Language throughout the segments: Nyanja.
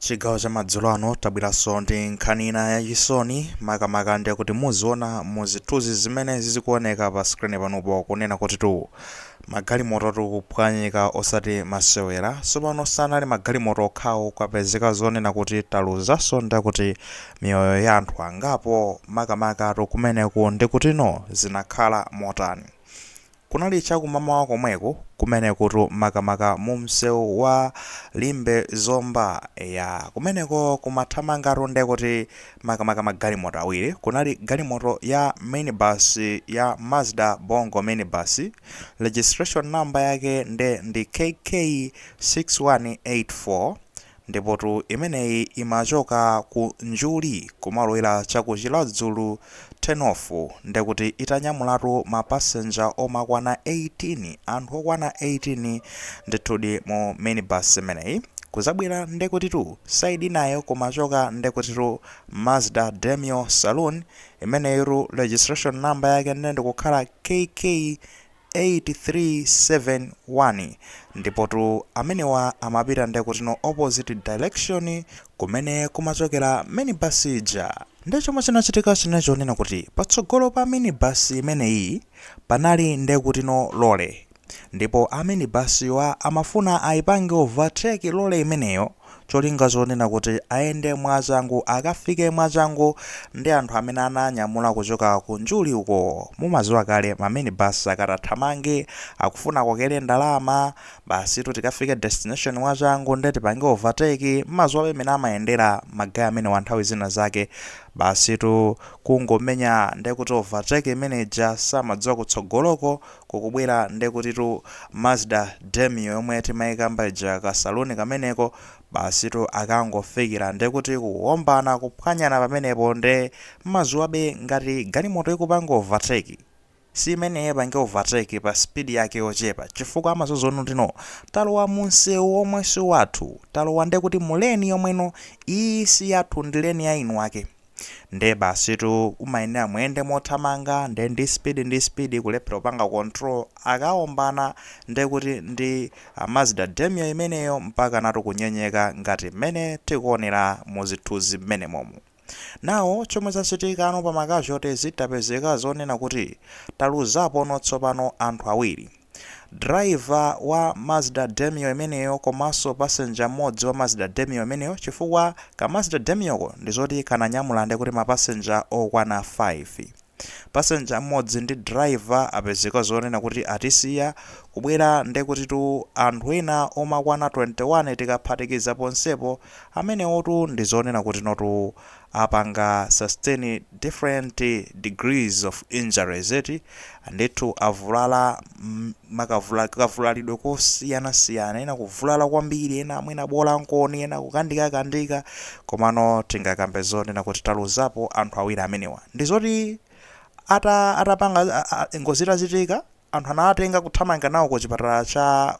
Chigawo cha madzulo ano tabweranso ndi nkhani ina yachisoni makamaka ndiye kuti muzionano mu zithunzi zimene zizikuoneka pa skrini panupo kunena kuti tu magalimoto tikuphwanyika osati masewera tsopano sanali magalimoto okhawo kwapezeka zonena kuti taluzanso ndiye kuti miyoyo ya anthu angapo makamaka tu kumeneku ndikutino zinakhala motani Kunali cha kumamawa komweko kumenekutu makamaka mu msewu wa Limbe-Zomba. Eya, kumeneko kumathamangatu ndekuti makamaka magalimoto awiri. Kunali galimoto ya minibus ya Mazda Bongo minibus, registration number yake nde ndi KK 6184. Ndipotu imeneyi imachoka ku Njuli kumalowera cha ku Chiradzulu turn off ndekuti itanyamulatu ma passenger amakwana 18, anthu okwana 18 ndithudi mu minibus imeneyi. Kuzabwera ndekutitu side inayo kumachoka ndekutitu Mazda Demio Saloon, imeneyitu registration number yake nde ndikukhala KK 8371 ndipotu amenewa amapita ndekutino opposite direction kumene kumachokera minibus ija. Nde chomwe chinachitika chinali chonena kuti patsogolo pa minibus imeneyi panali ndekutino lorry ndipo a minibus wa amafuna ayipange overtake lorry imeneyo, cholinga chonena kuti ayende mwachangu akafike mwachangu ndi anthu amene ananyamula kuchoka ku njuli uko mumaziwa kale ma minibus akathamange akufuna akokele ndalama basitu tikafike destination mwachangu nde tipange overtake mmaziwa pamene amayendera ma guy amenewa nthawi zina zake basitu kungomenya ndekuti overtake imene ija samadziwa kutsogoloko kukubwera ndekutitu Mazda Demio yomwe timaikamba ija ka saloon kameneko basitu akangofikira ndekuti kuombana kuphwanyana pamenepo nde mmaziwabe ngati galimoto ikupanga overtake siimene ipange overtake pa speed yake yochepa chifukwa amadziwa zoti no talowa mumsewu omwe siwathu talowa ndekuti mu lane yomwenso iyi siyathu ndi lane ya eni ake nde basitu umayenera muyende mothamanga nde ndi speed ndi speed kulephera kupanga control akaombana nde kuti ndi ah, Mazda Demio imeneyo mpaka natu kunyenyeka ngati mmene tikuonera muzithunzi mmenemomu nano chomwe chachitikano pa makazhotezi tapezeka zonena kuti taluzapono tsopano anthu awiri Driver wa Mazda Demio imeneyo komanso passenger mmodzi wa Mazda Demio imeneyo chifukwa ka Mazda Demioko ndizoti kananyamula ndekuti ma passenger okwana 5. Passenger mmodzi ndi driver apezeka zonena kuti atisiya kubwera ndekutitu anthu ena omakwana 21 tikaphatikiza ponsepo amenewotu ndizonena kutinotu apanga sustain different degrees of injuries eti ndithu avulala makavula kavulalidwe kosiyana siyana ena kuvulala kwambiri ena mwina bola nkoni ena kukandika kandika komano tingakambe zonena kuti taluzapo anthu awiri amenewa ndi zoti ata atapanga a- a- ngozi itachitika anthu anawatenga kuthamanga nawo ku chipatala cha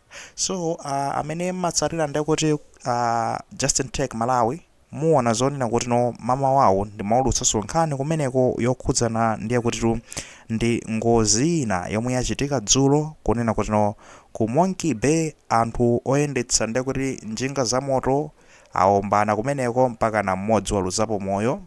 So uh, amene mmatsatira ndekuti uh, Justin Tech Malawi muona zonena kuti no mama wawo ndimaulutsanso nkhani kumeneko yokhudzana ndiye kutitu ndi ngozi ina yomwe yachitika dzulo kunena kuti no ku Monkey Bay anthu oyendetsa ndiye kuti njinga za moto aombana kumeneko mpaka na mmodzi waluzapo moyo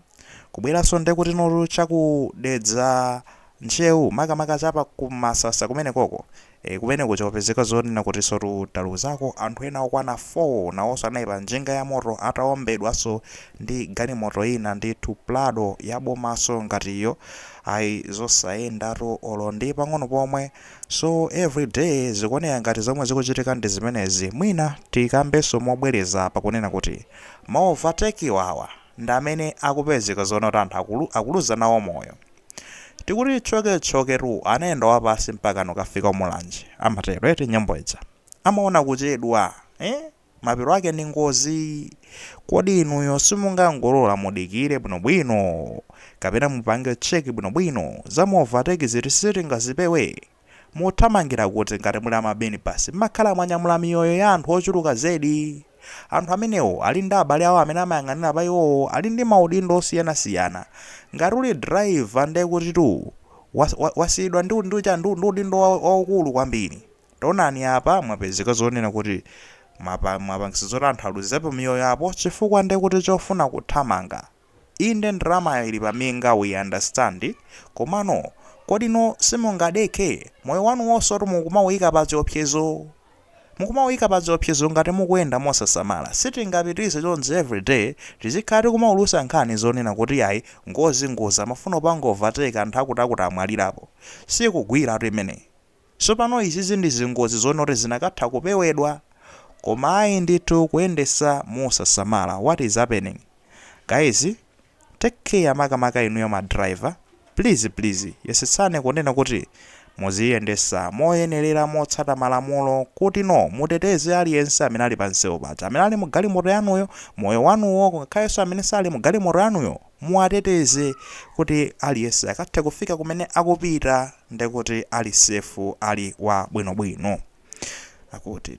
kubweranso ndiye kuti notu cha ku Dedza Ntcheu makamaka cha pa ku Masasa kumenekoko E, kumeneko kwapezeka zonena kutisotu taluzako anthu ena okwana 4 nawonso anali pa njinga ya moto ataombedwanso ndi galimoto ina ndithu prado ya bomanso ngati iyo ayi zosayendatu olo ndi pang'ono pomwe so everyday zikuoneka ngati zomwe zikuchitika ndi zimenezi mwina tikambenso mobwereza apa kunena kuti ma overtake awa ndi amene akupezeka zonena kuti anthu akulu, akuluza nawo moyo tikuti tchoketchoketu anayenda wapansi mpaka nukafika ku Mulanje amatero eti nyimbo ija amaona kuchedwa eh? mapeto ake ndi ngozi kodi inuyo simungangolola mudikire bwinobwino kapena mupange check bwinobwino zama overtake izi eti sitingazipewe Muthamangira kuti ngati muli a ma minibus? Mmakhala mwanyamula miyoyo ya anthu ochuluka zedi. Anthu amenewo ali ndi abale awo amene amayang'anira pa iwowo, ali ndi maudindo osiyanasiyana. Ngati uli driver ndiye kutitu wa, wa, wasiyidwa ndi, ndi chani, ndi, ndi udindo wa, waukulu kwambiri. Taonani apa mwapezeka zonena kuti mwapa, mwapangisa zoti anthu aluzepo miyoyo apo chifukwa ndiye kuti chofuna kuthamanga. Inde ndalamayo ili paminga we understand komano kodi inu simungadekhe? Moyo wanuwonsotu mukumauyika pa chiopsezo. Mukumauyika pa chiopsezo ngati mukuyenda mosasamala. Sitingapitirize chonchi every day tizikhala tikumaulutsa nkhani zonena kuti yayi ngozi ngozi amafuna kupanga overtake anthu akuti akuti amwalirapo. Sikugwiratu imeneyi. Sopano izizi ndi zingozi zonena kuti zinakatha kupewedwa koma ayi ndithu kuyendesa mosasamala what is happening guys take care makamaka inuyo ma driver please please yesetsani kunena kuti muziyendesa moyenelera motsata malamulo kutino muteteze aliyense amene ali pa nseu kaya amene ali mu galimoto yanuyo moyo wanuwo ngakhalenso amene sali mu galimoto yanuyo muwateteze kuti aliyense akathe kufika kumene akupita ndi kuti ali safe ali wa bwinobwino akuti.